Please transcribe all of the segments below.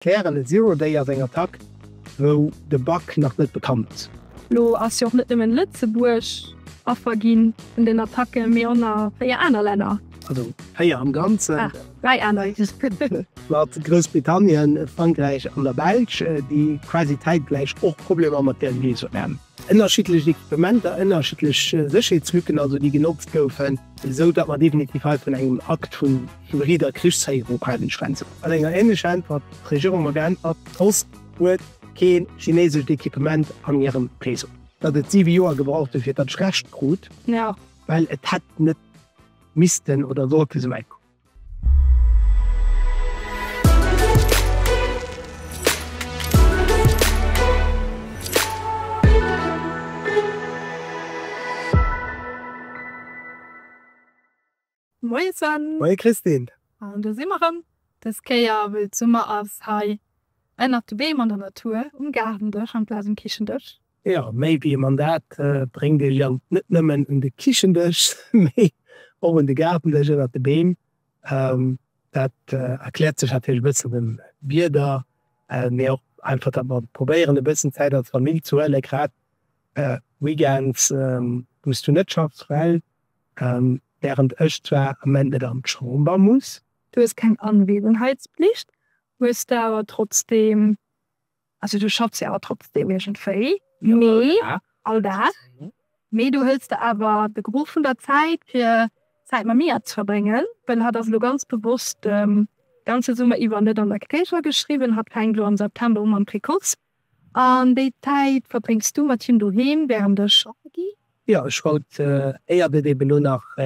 Fairen a Zero Day ass eng Attack wou de Bug nach net bekannt ass. Elo ass jo och net nëmmen Lëtzebuerg Affer gi vun den Attacken, mee och nach 4 aner Länner. Also 4 am Ganzen. Ah, 3 aner. Mat Groussbritannien, Frankräich an der Belsch, déi quasi zäitgläich och Problemer mat der Rees hunn. Ënnerschiddlech Equipementer, ënnerschiddlech Sécherheetslücken also, déi genotzt goufen, esou datt mer definitiv hei vun engem Akt vu hybrider Krichsféierung halen. Schwänzen mat enger änlecher Äntwert d'Regierung mer geäntwert, d'Post huet kee chinesescht Equipement an hirem Réseau. Datt et 7 Joer gebraucht huet fir datt ech Recht krut, well et hätt net missten oder sollte esou wäit kommen. Moie Sven! Moie Christine! An do si mer rëm! Dës Kéier wëll d'Summer ass hei ënnert de Beem an der Natur, um Gaardendësch amplaz um Kichendësch. Jo, méi wéi e Mandat bréngt ee Jang net nëmmen un de Kichendësch, mee och un de Gaardendësch ënnert de Beem. Dat erkläert sech natierlech e bëssen dem Wieder, mee och einfach, datt mer probéieren e bëssen Zäit als Famill ze huelen, grad Weekends, wou s du net schaffs, well wärend ech zwar am Moment net an d'Chamber muss. Du hues keng Anwesenheitsplicht, hues der awer trotzdeem Also du schaffs jo awer trotzdem iergendwéi, mee all Dag, mee du huels der awer de Gros vun der Zäit fir Zäit mam Mia ze verbréngen, well hatt ass elo ganz bewosst de ganze Summer iwwer net an der Crèche ageschriwwen, hatt fänkt elo am September u mam Precoce, an déi Zäit verbréngs du mat him doheem wärend ech schaffe gi. Jo, ech wollt, éiert et eben elo nach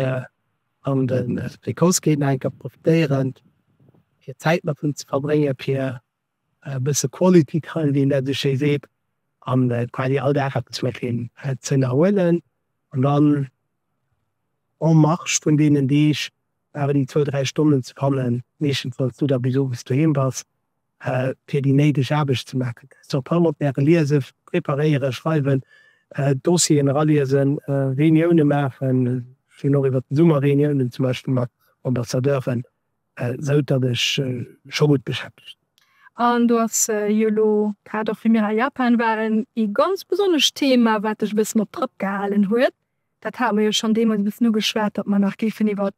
an de Precoce geet, nach eng Kéier profitéieren fir Zäit mat him ze verbréngen, fir e bësse Quality time, wéi een dat esou schéi seet, an quasi all Dag eppes mat him ze ënnerhuelen. An dann en marge vun deenen Deeg awer déi zwou, dräi Stonnen ze fannen, meeschtenfalls du da bis owes doheem bass, fir déi néideg Aarbecht ze maachen, Sur Parlementaire liesen, preparéieren, schreiwen, Dossieren eraliesen, Reuniounen maachen, ech hunn och iwwert de Summer Reuniounen zum Beispill mat Ambassadeuren, Esou datt ech scho gutt beschäftegt sinn. An do ass jo elo grad och wéi mir a Japan waren, ee ganz besonnescht Thema, wat dech e bëssen op Trëpp gehalen huet. Dat hate mer jo schonn deemools e bëssen ugeschwat, datt mer nach géifen iwwert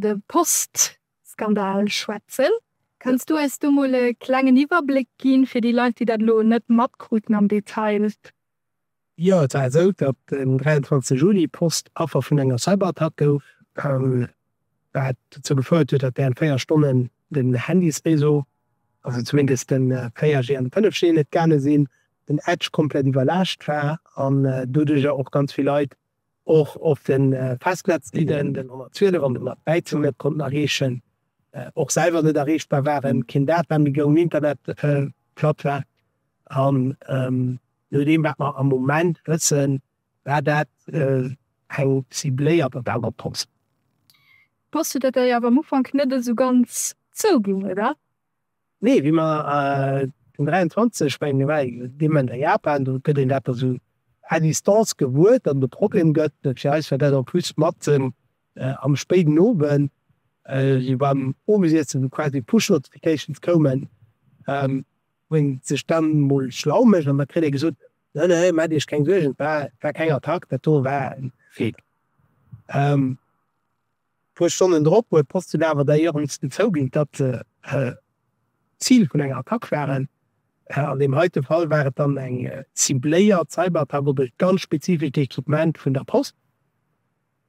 de Post-Skandal schwätzen. Kanns du eis do mol e klengen Iwwerbléck ginn, fir déi Leit, déi dat elo net matkruten am Detail? Jo, et war esou, datt den 23 Juli Post Affer vun enger Cyberattack gouf, wat dozou gefouert huet, datt während 4 Stonnen den Handysréseau, also zumindest den 4G an den 5G net gaange sinn, den Edge komplett iwwerlaascht war an doduerjer och ganz vill Leit och op de Festnetzlinnen, den 112 an den 113, net konnten erreechen, och selwer net erreechbar waren, keen Data méi goung, Internet platt war. Je nodeem wat mer am Moment wëssen, war dat eng cibléiert Attack op d'Post. D'Post huet dat dei awer am Ufank net esou ganz zouginn, oder? Nee, wéi mer den 23 bei den Evenementer Japan, do gëtt een dat da sou à distance gewuer, datt et e Problem gëtt. Fir eis war dat en plus matzen am spéiden Owend, sou beim Owesiessen, wou quasi Push-Notifications koumen, Wou een sech dann mol schlau mécht an da kritt ee gesot, ne ne, maacht iech keng Suergen, et war keng Attack, dat do war e Fake. E puer Stonnen drop huet d'Post dunn awer da iewendsten zouginn, datt se d'Zil vun enger Attack waren. An deem heite Fall war et dann eng cibléiert Cyberattack op e ganz spezifescht Equipement vun der Post.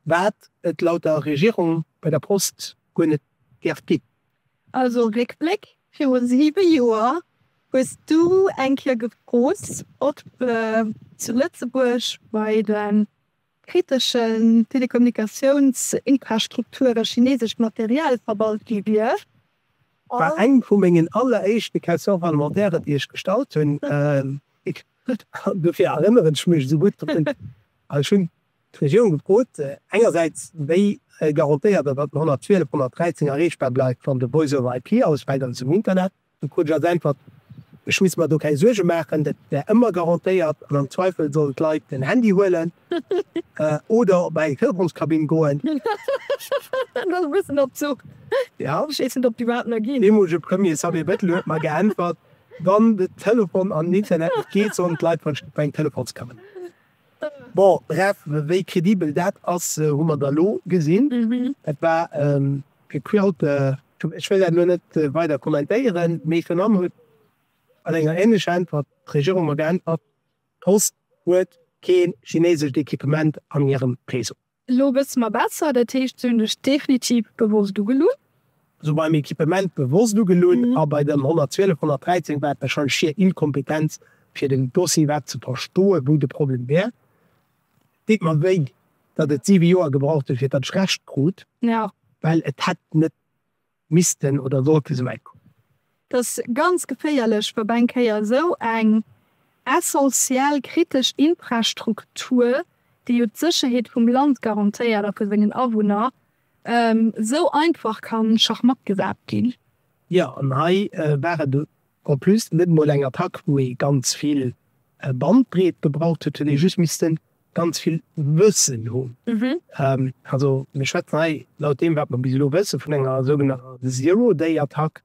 wat et laut der Regierung bei der Post guer net dierft ginn. Also Réckbléck, Viru siwe Joer hues du eng Kéier gefrot, ob zu Lëtzebuerg bei de kriteschen Telekommunikatiounsinfrastrukture chineesescht Material verbaut gi wier. Dat war eng vu mengen alleréischte Questions parlementaires, déi ech gestallt hunn. Dofir erënneren ech mech esou gutt drun. Ech hunn d'Regierung gefrot, engersäits wéi garantéiert ass, datt den 112 113 erreechbar bleift, wann de Voice over IP ausfält an ech zum Internet. Do krut ech als Äntwert, ech misst mer do keng Suerge maachen, dat wär ëmmer garantéiert an am Zweifel sollen d'Leit den Handy huelen oder op eng Telefonskabinn goen. Dat ass e bëssen absurd. Ech weess net, ob déi iwwerhaapt nach ginn. Deemolege Premier Xavier Bettel huet mer geäntwert, wann de Telefon an den Internet net geet, sollen d'Leit verschidde bei eng Telefonskabinn. Bon, bref, wéi credibel dat ass, hu mer da lo gesinn. Et war e gequirlte, ech wëll dat elo net weider kommentéieren, mee virun allem huet mat enger ähnlecher Äntwert d'Regierung mer geäntwert, D'Post huet kee chineesescht Equipement an hirem Réseau. Elo gëss de mer besser, dat heescht, se hunn dech definitiv bewosst ugelunn? Also beim Equipement bewosst ugelunn a bei dem 112 113 war et warscheinlech schier Inkompetenz fir den Dossier iwwerhaapt ze verstoen, wou de Problem wär. Deet mer wéi, datt et 7 Joer gebraucht huet fir datt ech Recht krut, well et hätt net missten oder sollten sou wäit kommen. Et ass ganz geféierlech, wa beim Kéier sou eng essentiell kritesch Infrastruktur, déi jo d'Sécherheet vum Land garantéiert a vu sengen Awunner, sou einfach ka schachmatt gesat ginn. Jo, an hei war et En plus net mol eng Attack wou ee ganz vill Bandbreet gebraucht huet, huet ee just missten ganz vill Wëssen hunn. Also mir schwätzen hei, laut deem wat mer bis elo wëssen, vun enger sougenannter Zero Day Attack.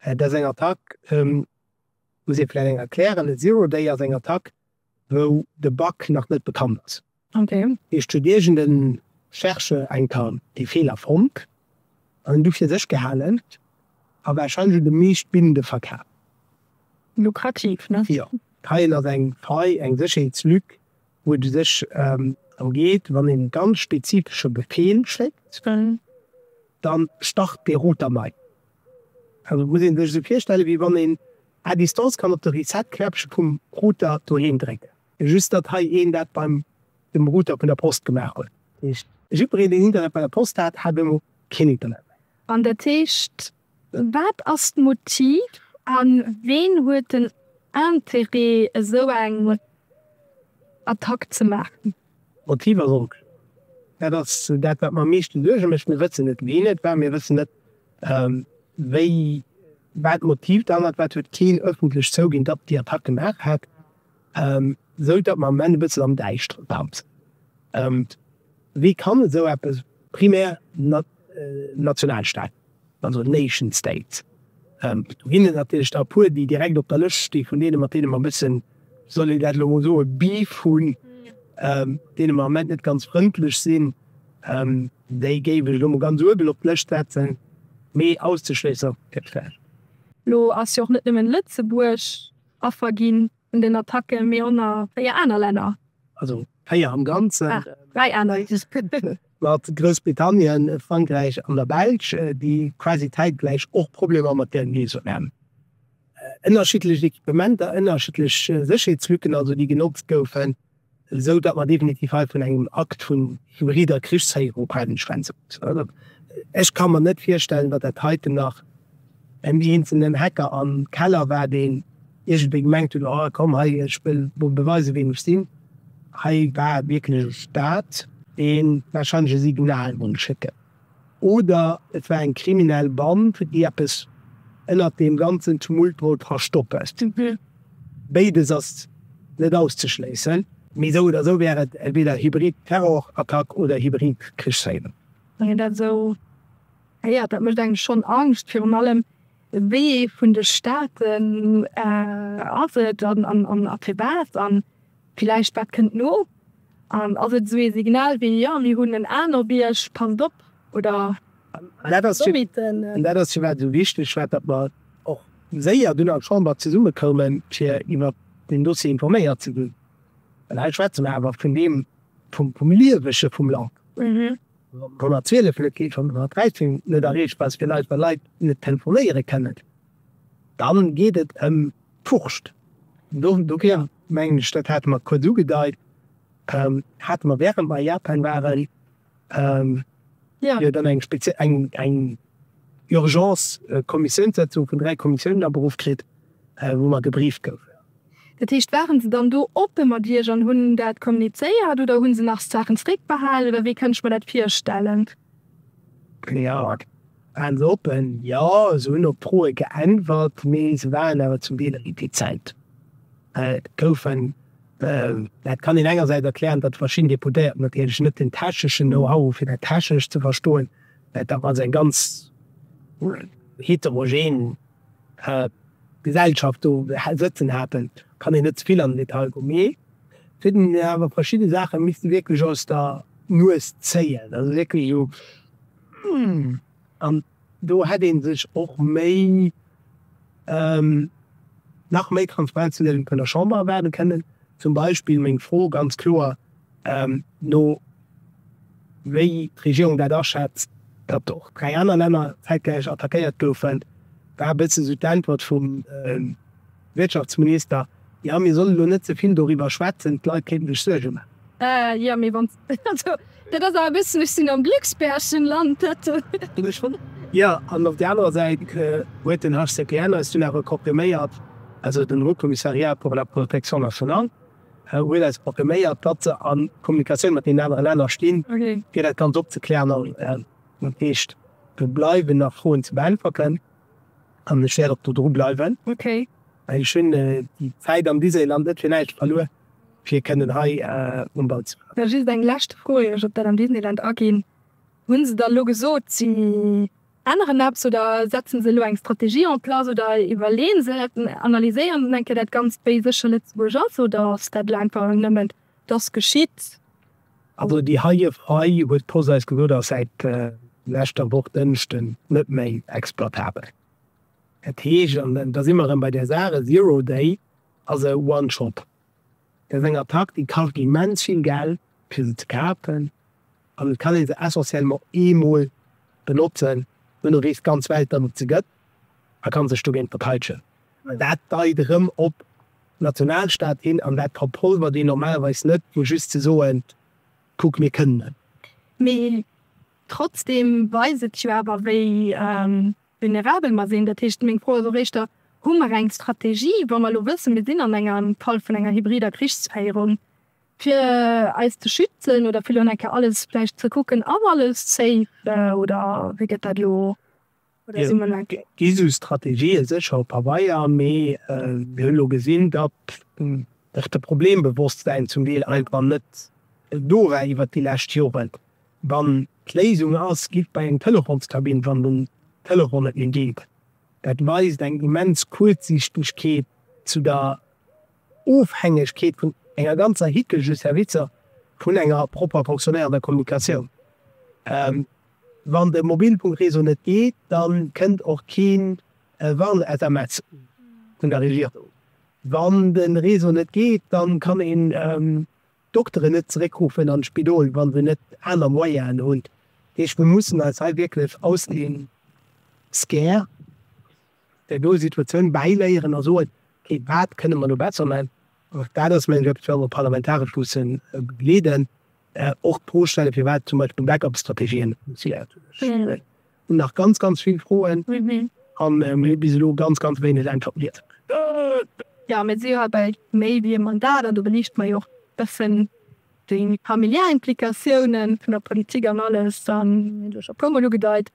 Dat ass eng Attack, muss ee vläicht eng erklären, e Zero Day ass eng Attack wou de Bug nach net bekannt ass. Heescht huet iergende Chercheur eng Kéier dee Feeler fonnt an en du fir sech gehalen a warscheinlech un de meescht Binde verkaf. Lukrativ, ne? Jo. Heien ass eng Faille, eng Sécherheetslück, wou et u sech drëm geet, wann een e ganz spezifesche Befeel schéckt, dann start dee Router nei. Muss een sech esou virstellen, wéi wann een à distance kann op de Reset Knäppche vum Router doheem drécken, just datt hei een dat beim dem Router vun der Post gemaach huet. Dat heescht, jiddwereen deen Internet bei der Post hat, hat elo keen Internet méi. An dat heescht, wat ass d'Motiv a ween huet den Interêt esou eng Attack ze maachen? D'Motiv ass onkloer. Dat ass dat, wat mer am meeschte Suerge mécht. Mir wëssen net, ween et war, mir wëssen net, wéi, wat d'Motiv derhannert war. Et huet keen ëffentlech zouginn, datt déi Attack gemaach hat, esou datt mer am Moment e bëssen am Däischteren tanzen. Wéi kann esou eppes, primär nationalstaatlich, also Nation State. Do ginn et natierlech der e puer, déi direkt op der Lëscht sti vun deene, mat deene mer e bëssen, soll een dat elo emol soen, Beef hunn, deene mer am Ament net ganz frëndlech sinn. Déi géif ech elo emol ganz uewen op d'Lëscht setzen, mee auszeschléisser gëtt schwéier. Elo ass jo och net nëmmen Lëtzebuerg Affer ginn vun den Attacke, mee och nach véier aner Länner. Véier am Ganzen. Dräi aner. Mat Groussbritannien, Frankräich an der Belsch, déi quasi zäitgläich och Problemer mat där Liesung haten. Ënnerschiddlecht Equipementer, ënnerschiddlech Sécherheetslücken also, déi genotzt goufen, esou datt mer definitiv hei vun engem Akt vu hybrider Krichsféierung hei schwätze mussen. Ech ka mer net virstellen, datt dat heiten nach en eenzelen Hacker am Keller war, deen Iergendwéi gemengt hunn, oh komm hei, ech wëll mol beweisen, wien ech sinn. Hei war wierklech e Staat, dee warscheinlech e Signal wollt schécken. Oder et war eng kriminell Band, déi eppes ënnert deem ganzen Tumult wollt verstoppen. Béides ass net auszeschléissen. Mee esou oder esou wär et entweder hybrid Terrorattack oder hybrid Krichsféierung. Wann een dat esou héiert, dat mécht engem schonn Angscht. Virun allem, Wéi ee vun de Staaten ass et an a firwat? An villäicht, wat kënnt no? An ass et esou ee Signal wéi, jo, mir hunn en anere Bierg, passt op? Oder Sommiten? An dat ass firwat esou wichteg war, datt mer och séier dunn an der Chamber zesummekoumen, fir iwwer deen Dossier informéiert ze ginn. Well hei schwätze mer awer vun deem, vum Liewege vum Land. D'Nummer 12 huet kee vun der 13 net erreecht, well villäicht well Leit net telefonéiere kennen. Dann geet et ëm d'Wurscht. Do ginn, mengen ech, dat hate mer kuerz ugedeit, hate mer während mer a Japan waren, jo dann eng speziell, eng Urgence-Kommissiounssetzung vun dräi Kommissiounen aberuff kritt, wou mer gebrieft goufen. Dat heescht, waren se dann do oppe mat Iech an hunn dat kommunizéiert oder hunn se nach Saachen zréckbehalen oder wéi kënnt ech mer dat virstellen? Cléante, Waren se oppen, jo, se hunn op Froe geäntwert, mee se waren awer zum Deel retizent. Et goufen, dat kann een engersäits erklären, datt verschidden Deputéierten natierlech net den techneschen Know-how hu fir dat technescht ze verstoen, dat ass eng ganz heterogen. Gesellschaft do sëtzen haten, kann een net ze vill an den Detail goen, mee et huet een awer verschidde Saache misste wierklech aus der Nues zéien, also wierklech esou humm. An do hätt ee sech och méi, nach méi Transparenz vun der Chamber erwaarde kënnen. Zum Beispill meng Fro ganz kloer, no wéi d'Regierung dat aschätzt, datt och dräi aner Länner zäitgläich attackéiert goufen, war e bëssen esou d'Äntwert vum Wirtschaftsminister, Jo, mir solle lo net ze vill doriwwer schwätzen, d'Leit kéinten sech Suerge maachen. Jo, mee wann, also dat ass awer e bëssen, ech sinn am Glücksbärchen Land, dat ginn ech un. Jo, an op där anerer Säit huet den HCPL eis dunn awer confirméiert, also den Haut Commissariat pour la protection nationale, huet eis confirméiert, datt se a Kommunikatioun mat deenen anere Länner stinn, fir dat Ganzt opzeklären. An dat heescht, do bleiwen nach Froen ze beäntwerten an ech wäert och do dru bleiwen. Ech hunn déi Zäit am Disneyland net fir näischt verluer, fir kënnen hei um Ball ze bleiwen. Just eng lescht Fro, ier ech op dat am Disneyland aginn. Hu se der elo gesot, si änneren eppes oder setzen se elo eng Strategie en place oder iwwerleeën se et, analyséieren se eng Kéier dat Ganzt, wéi sécher Lëtzebuerg ass, oder ass dat elo einfach nëmmen dass geschitt? Also déi heije Faille huet d'Post eis gesot, ass säit leschter Woch Dënschden net méi exploitabel. Dat heescht, an da si mer erëm bei där Saach, e Zero Day ass e One Shot. Bei senger Praktik kascht immens vill Geld fir se ze kafen an et kann ee se essentiellement eemol benotzen, duerno reest d'ganz Welt dermat ze Gëtt a kann sech dogéint verteitschen. Dat deit erëm op Nationalstaat hin an dat verpolvert een normalerweis net vu just ze soen, kuck mir kënnen et. Mee trotzdem weist et jo awer wéi. Vulnerabel mer sinn. Dat heescht, meng Fro ass och éischter, Hu mer eng Strategie, wa mer elo wëssen, mir sinn an engem Fall vun enger hybrider Krichsféierung, fir eis ze schützen oder fir elo nach eng Kéier alles vläicht ze kucken, ass alles safe oder wéi gëtt dat elo? Oder si mer elo. Et gi sou Strategië sécher op Pabeier, mee mir hunn elo gesinn, datt och de Problembewosstsein zum Deel einfach net do war iwwert déi lescht Joren. Wann d'Léisung ass, giff bei eng Telefonskabinn, wann den Telefon net méi geet. Dat weist eng immens Kuerzsiichtegkeet zu der Ofhängegkeet vun enger ganzer Hicke vu Servicer vun enger propper fonctionéierender Kommunikatioun. Wann de Mobilfunkreseau net geet, da kënnt och kee Warn-SMS vun der Regierung. Wann de Reseau net geet, da kann een Dokteren net zeréckruffen an d'Spidol, wa se net aner Moyenen hunn. Dat heescht, mir mussen eis hei wierklech aus dem Scare der do Situatioun bäiléieren a soen, okay, wat kënne mer do besser man? Och dat ass meng Job, wou mer parlamentaresch mussen begleeden, och d'Fro stellen, firwat zum Beispill Backup-Strategien Hun nach ganz ganz vill Froen an hun bis elo ganz ganz wéineg Äntwerten. Jo mir si jo hei bei méi wéi ee Mandat an do beliichte mer jo och bessen déi familiär Implikatiounen vun der Politik an alles an hun jo scho puermol ugedeit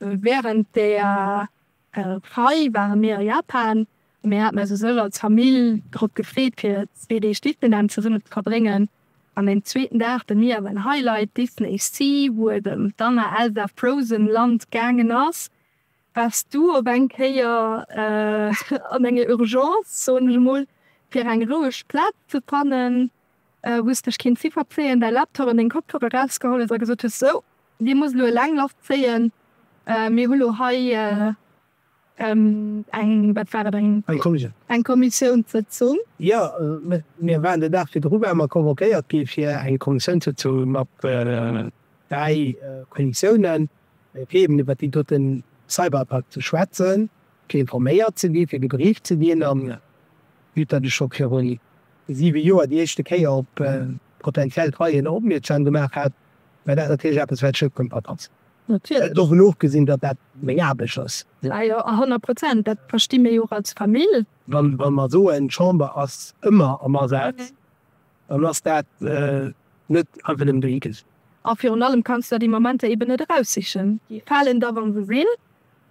während der Hei ware mir a Japan a mir haten eis u sech als Famill drop gefreet fir zwee Deeg Disneyland zesummen ze verbréngen. An deem zweeten Dag, den mir awer en Highlight, Disney Sea, wou et ëm d'Anna, Elsa, Frozen Land gaangen ass, wars du op eng Kéier an enger Urgence, soen ech emol, fir eng roueg Plaz ze fannen. Hues dech keen Ziffert zéien, däi Laptop an deng Kopfhörer rausgeholl hues a gesot hues, sou, dee muss elo eleng Loft zéien, mir hu lo hei eng, wat war et, eng Kommissiounssëtzung. Jo, mir waren den Dag virdru ware mer convoquéiert gi fir eng Kommissiounssëtzung mat dräi Kommissiounen, fir eben iwwert deen dote Cyberattack ze schwätzen, fir informéiert ze ginn, fir gebrieft ze ginn. An vue dat ech scho virun siwe Joer déi éischte Kéier op potentiell Treien opmierksam gemaach hat, well dat natierlech eppes wat Schëpp kënnt bei Katzen. Natierlech dovun ofgesinn, datt dat meng Aarbecht ass. Ah jo, a honnert Prozent, dat versti mir jo och als Famill. Wa mer soen, d'Chamber ass ëmmer am Asaz, dann ass dat net einfach nëmmen dohi gesot. A virun allem kanns de der déi Momenter eeben net eraussichen. Déi falen da wa se sinn.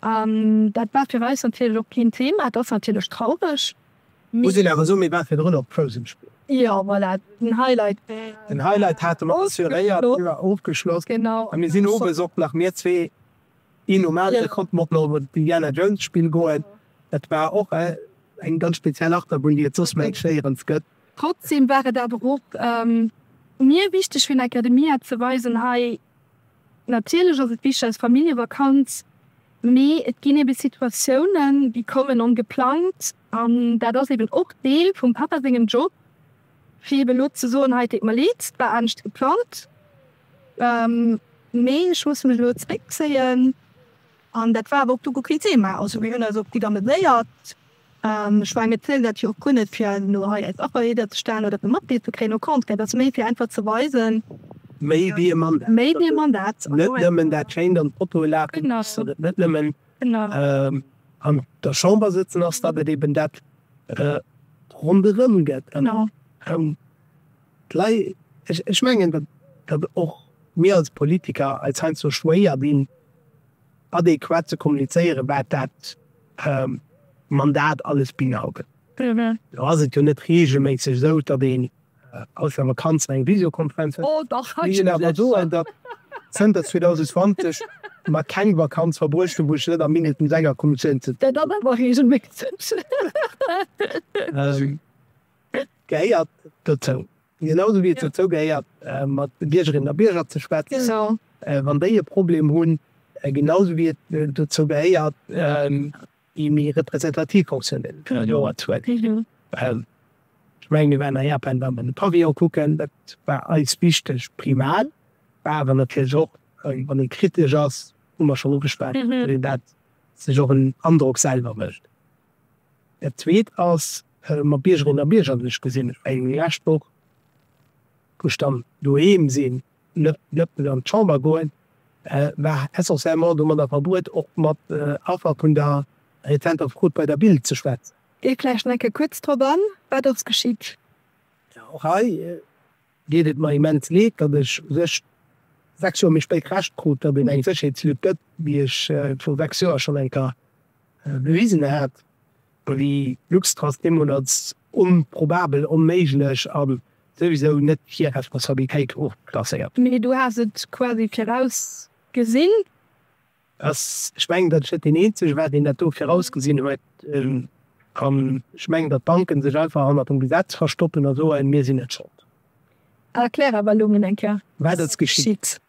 An dat war fir eis natierlech och keen Thema. Et ass natierlech traureg. Muss een awer soen, mir waren virdrun op Frozen spillen. Jo, voilà, den Highlight. Den Highlight hate mer assuréiert, d'Déier war ofgeschloss. Genau. A mir sinn owes och nach, mir zwee, een nom aneren, konnten och nach op en Indiana Jones Spill goen. Dat war och eng ganz speziell Achterbunn, déi et soss méi schéierens gëtt. Trotzdem war et awer och mir wichteg fir den Academia ze weisen, hei, Natierlech ass et wichteg als Familljevakanz, mee et ginn eebe Situatiounen, déi kommen ongeplangt. An dat ass eeben och Deel vum Papa sengem Job, fir eebe elo ze soen, hei, et deet mer leed, et war anescht geplangt, mee ech muss mech elo zréckzéien. An dat war awer och do guer keen Thema. Also mir hunn eis och gutt ameséiert. Ech menge mir zielen dat jo och guer net fir elo hei eis Affer iwwerzestellen oder fir Matglied ze kréien, au contraire, dat ass méi fir einfach ze weisen, Méi wéi e Mandat. Méi wéi e Mandat. Net nëmmen dat schéint an d'Foto lafen, dass et net nëmmen an der Chamber sëtzen ass, dat et eben dat ronderëm gëtt. Ech mengen, datt och mir als Politiker eis heiansdo schwéier dinn. adequat ze kommunizéieren, wat dat Mandat alles beinhaltet. Lo ass et jo net reegelméisseg esou, datt een aus der Vakanz eng Visiokonferenz huet. Mee ech wëll awer soen, datt zënter 2020 mer keng Vakanz verbruecht hunn, wou ech net am mindestens enger Kommissioun sëtzen. Dat ass awer reegelméisseg. Et gehéiert dozou, genau esou wéi et dozou gehéiert mat de Biergerinnen a Bierger ze schwätzen, wann déi e Problem hunn, genau esou wéi et dozou gehéiert déi méi representativ Fonctioun de Joer ze huelen. Ech mengen mir waren a Japan, wa mer de Pavillon kucken, dat war eis wichteg. Primal war awer natierlech och, wann ee kritesch ass, hu mer schonn ugeschwat, datt sech och en Androck selwer mécht. Dat Zweet ass, mer Biergerinnen a Bierger, ech gesinn eng lescht Woch, wou ech dann doheem sinn, net nëmmen an d'Chamber goen, war essentiellement domadder verbruet, och mat Affer vun der rezenter Frot bei der Bild ze schwätzen. Dee vläicht eng Kéier kuerz drop an, Wat ass geschitt? Jo, och hei. deet et mer immens leed, datt ech u sech 6 Joer méi spéit Recht krut, datt een eng Sécherheetslück gëtt, déi ech viru 6 Joer schonn eng Kéier bewisen hat, déi Luxtrust deemools als onprobabel, onméiglech a souwisou net hir Responsabilitéit ofklasséiert. Mee du has et quasi virausgesinn. ass. Ech mengen, datt ech net deen Eenzege war, deen dat do virausgesinn huet. An ech mengen, datt d'Banken sech einfach hannert dem Gesetz verstoppen a soen, mir sinn net Schold. Erklär awer elo mol eng Kéier, wat ass geschitt.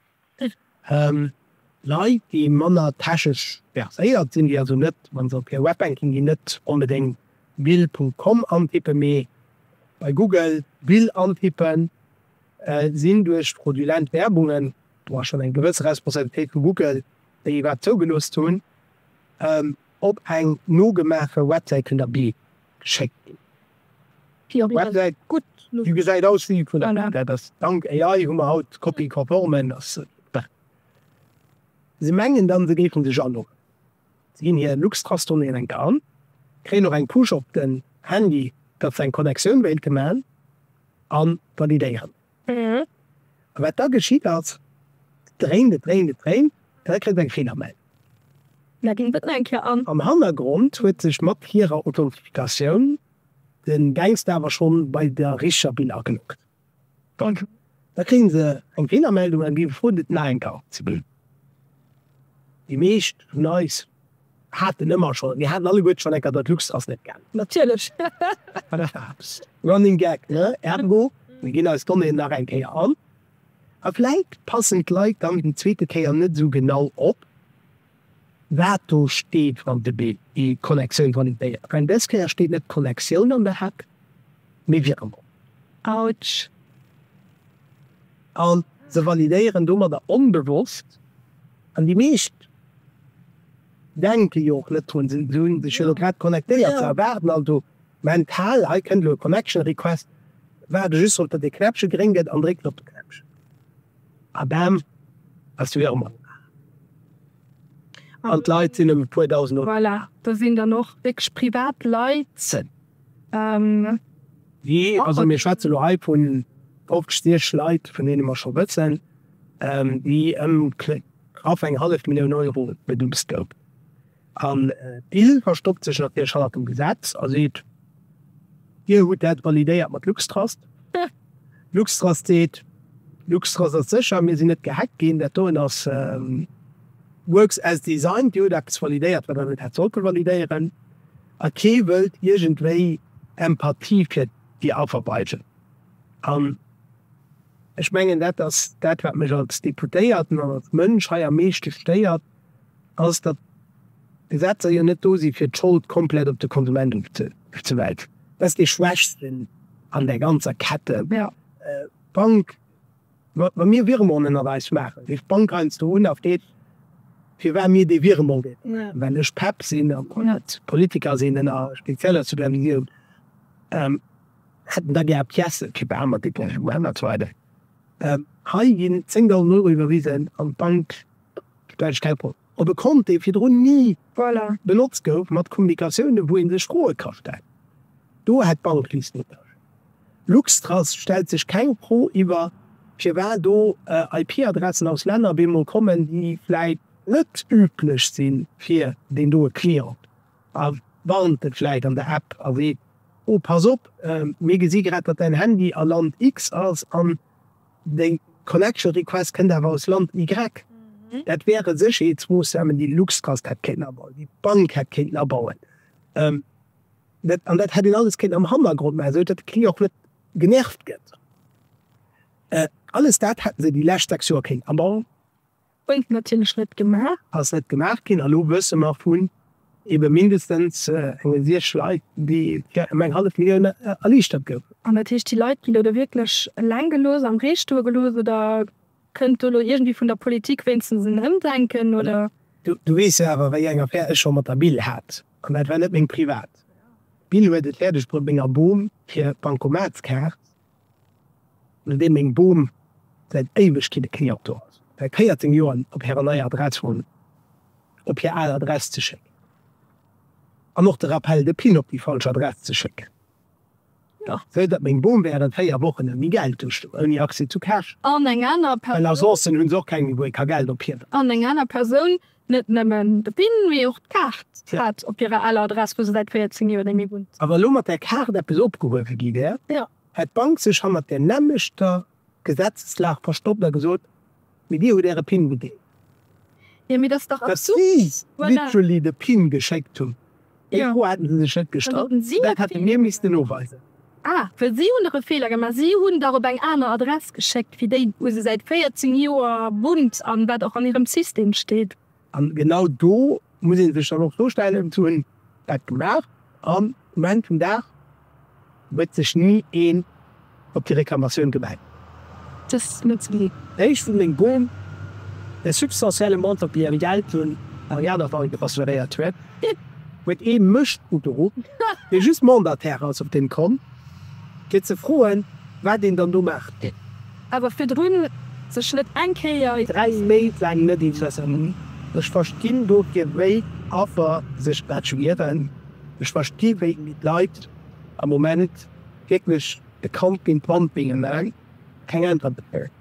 Leit, déi manner techesch verséiert sinn, déi also net, wa se op hir Webbanking ginn, net onbedéngt bill. Com antippen, mee bei Google bill antippen. Sinn duerch fraudulent Werbungen, do ass schonn eng gewësse Responsabilitéit vu Google, déi iwwerhaapt zougelooss hunn, op eng nogemaache Websäit vun der Bild geschéckt ginn? Déi Websäit gesäit aus wéi déi vun der Bild, dat ass, dank AI hu mer haut copy-conforme. Se mengen dann, se géife sech aloggen. Si ginn hir Luxtrust-Donnéeën eng Kann, kréien och eng Push op den Handy, datt se eng Connectioun wéilte man a validéieren. A wat da geschitt ass, et dréint, et dréint, et dréint, an da kritt et eng Feelermeldung. Da geet et nach eng Kéier an. Am Hannergrond huet sech mat hirer Authentifikatioun de Gangster awer schonn bei der richteger Bill ageloggt. Da kréie se eng Feelermeldung a gi gefrot, et nach eng Kart ze ginn. Déi meescht vun eis haten ëmmer schonn, mir haten alleguerte schonn eng Kart, dat Luxx ass net gaangen. Natierlech. Running Gag, ne? Ergo, mir ginn eis Donnéeën nach eng Kéier an a vläit passen d'Leit dann déi zweete Kéier net esou genau op. wat do steet, wann de Bill déi Connexioun validéiert. Mä dës Kéier steet net Connexioun an der Head, mee Virement. Ouch. A se validéieren domadder onbewosst, an déi meescht denke jo och net drun, se hunn sech jo elo grad connectéiert, se erwaarden also mental, hei kënnt elo e Connection Request, waarde just drop, datt ee Knäppche gréng gëtt an drécken op de Knäppchen. A Bam ass du jo mat. An d'Leit sinn ëm e puer Dausend Euro. Voilà, do sinn dann och wierklech privat Leit. Wi, also mir schwätze lo hei vun 50 Leit, vun deene mer scho wëssen, déi ëm knapp eng hallef Millioun Euro beduust gouf. An d'Bild verstoppt sech natierlech hannert dem Gesetz a seet, Dir hutt dat validéiert mat Luxtrust. Luxtrust seet, Luxtrust ass sécher, mir sinn net gehackt ginn. Dat doen ass works as designed. Dir hutt eppes validéiert, wat Der net hätt sollte validéieren. A kee wëllt iergendwéi Empathie fir Dir Affer weisen. An ech mengen, dat ass dat, wat mech als Deputéierten an als Mënsch hei am meeschte stéiert. ass, datt d'Gesetzer jo net do si fir d'Schold komplett op de Konsument ofzewälzen. Dat ass dee Schwächsten an där ganzer Kette. D'Bank, wa mir Virement ënnerweis maachen, rifft d'Bank eis do un a freet, firwat mir dee Virement ginn. Well ech Pep sinn a Politiker sinn an a spezieller Supervisioun, hätten da gär Piècen fir beamer Dépensen an esou weider. Hei ginn 10.000 Euro iwwerwisen an d'Bank. Däitsch Telefon op e Kont, dee virdrun ni benotzt gouf, mat Kommunikatiounen, wou ee sech Froe ka stellen. Do hätt d'Bank Liechtenstein Luxtrust stellt sech keng Fro iwwer firwat do IP-Adressen aus Länner op eemol kommen, déi vläit net üblech si fir deen doe Client, a warnt e vläit an der App a seet, Oh, pass op, mir gesi grad, datt däin Handy a Land X ass, an Déi Collection Request kënnt awer aus Land Y. Dat wäre Sécherheetsmoossnamen, déi Luxtrust hätt kéinten abauen, déi d'Bank hätt kéinten abauen. An dat hätt een alles kéinten am Hannergrond maachen, esou datt de Client och net genervt gëtt. Alles dat hätten se déi lescht sechs Joer kéinten abauen. Gouf natierlech net gemaach. Ass net gemaach ginn. A lo wësse mer vun ebe mindestens enge siech Leit, déi fir ëm eng hallef Millioun erliichtert goufen. An dat heescht, déi Leit ginn do da wierklech eleng gelooss, am Ree stoe gelooss? Oder kënnt do elo iergendwéi vun der Politik wéinstens en Ëmdenken, oder? Du weess jo awer, wéi eng Affär ech scho mat der Bill hat. An dat war net meng privat. D'Bill huet et fäerdegbruet, menger Bom hir Bancomatskaart An deem meng Bom säit Éiwegkeete keng Antwort hat, säit 14 Joren op hirer neier Adress wunnt, op hir al Adress ze schécken an och de Rappel de PIN op déi falsch Adress ze schécken, jo, esou datt meng Bom während 4 Wochen ouni Geld do stoung, ouni Accès zu Cash, well Agencen hu se och keng méi, wou ee ka Geld ophiwen. An eng aner Persoun Net nëmmen de Pin, mee och d'Kaart hat op hirer aler Adress, wou se säit 14 Joer némmi wunnt. A wa elo mat där Kaart eppes opgehuewe gi wär, hätt d'Bank sech hannert där nämmlechter Gesetzeslag verstoppt a gesot, mee dir hutt äre Pin gedeelt, datt si literally de Pin geschéckt hunn. Déi Fro hate se sech net gestallt, dat hätte mir missten noweisen. A, Well si hunn dach e Feeler gemaach, si hunn dach op eng aner Adress geschéckt wéi déi, wou se säit 14 Joer wunnt an wat och an hirem System steet. A genau do muss ee sech dann och d'Fro stellen, Wou hunn dat gemaach? Am Moment vum Dag Huet sech ni een op déi Reklamatioun gemellt? Dës net ze ginn. D'Héicht vun engem Boom, dee substantielle Montant déi eng Dell vun Ariana Veiga assuréiert huet, huet ee Mënsch ugeruff, dee just Mandataire ass op deem Kont, fir ze froen, wat een dann do maachen. Awer virdrun sech net eng Kéier. Dräi Méint laang net interesséiert. Ech verstinn dofir, wéi Affer sech dat schmieren. Ech versti wéi d'Leit am Moment wierklech de Camping Pumping a mer keng Äntwert kréien.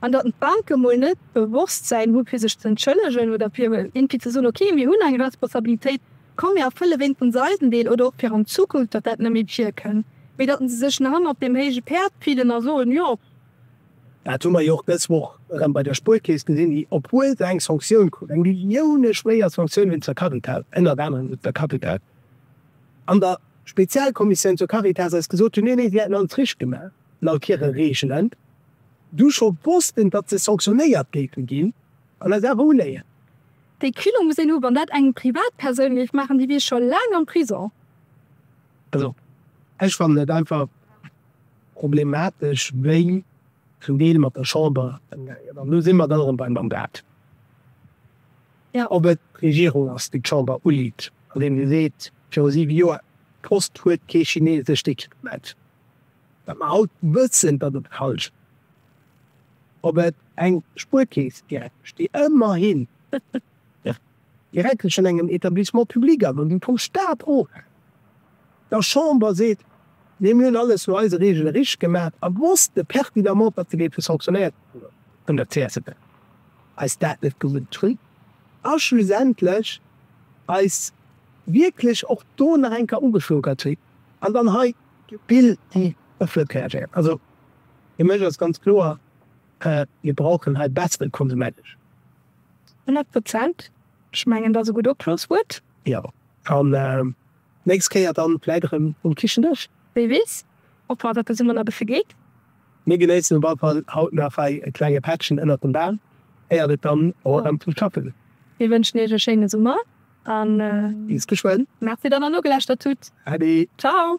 An datt d'Banke mol net d'Bewosstsäin hu fir sech z'entschëllegen oder fir éngpi ze soen, ok mir hunn eng Responsabilitéit, komm mir erfëlle wéinstens eisen Deel oder och fir an Zukunft, datt dat net méi virkënn, mee datt se sech nach ëmmer op deem héije Päerd fillen a soen, jo. Dat hu mer jo och dës Woch erëm bei der Spuerkeess gesinn, obwuel se eng Sanktioun krut, eng millioune-schwéier Sanktioun un zur Caritas, ënnert anerem un zur Caritas, an der Spezialkommissioun zur Caritas eis gesot hunn, nee, nee, si hätten alles richteg gemaach laut hire Reegelen, du scho wossten, datt se sanktionéiert géife ginn an eis awer uléien. Déi Kino muss een hu wann dat eng Privatpersoun géif maachen, déi wier scho laang am Prison. Also ech fannen et einfach problematesch wéi zum Deel mat der Chamber ëmgaangen. An do si mer da erëm beim Mandat, ob et d'Regierung ass, déi d'Chamber uliit, andeem se seet, viru siwe Joer, d'Post huet kee chinesescht Equipement, wat mer haut wëssen, datt et falsch ass, ob et eng Spuerkeess direkt besteet, ëmmerhin. direkt tëschent engem Etablissement public a wou vum Stat of der Chamber seet, nee mir hunn alles no eise Reegele richteg gemaach a wosste pertinemment, datt se géife sanctionéiert gi vun der csv, eis dat net gewot hunn a schlussendlech eis wierklech och do nach eng Kéier ugeschlogert hunn an dann hei d'Pill déi ëffent reagéiert. Also fir mech ass ganz kloer, mir brauchen hei bessere Konsumenteschutz. 100 Prozent, ech mengen dat ass e gutt Opschlosswuert. Jo, an nächst Kéier dann vläit erëm um Kichendësch. Wee weess, ob hatt eppes ëmmer nach beffe geet. Mir genéissen op alle Fall haut nach hei e klenge Pättchen ënnert dem Bam, éiert et dann och erëm zum Schaffen geet. Mir wënschen iech e schéine Summer a bis geschwënn. Merci, datt der nogeläuschtert hutt. Ade. Ciao.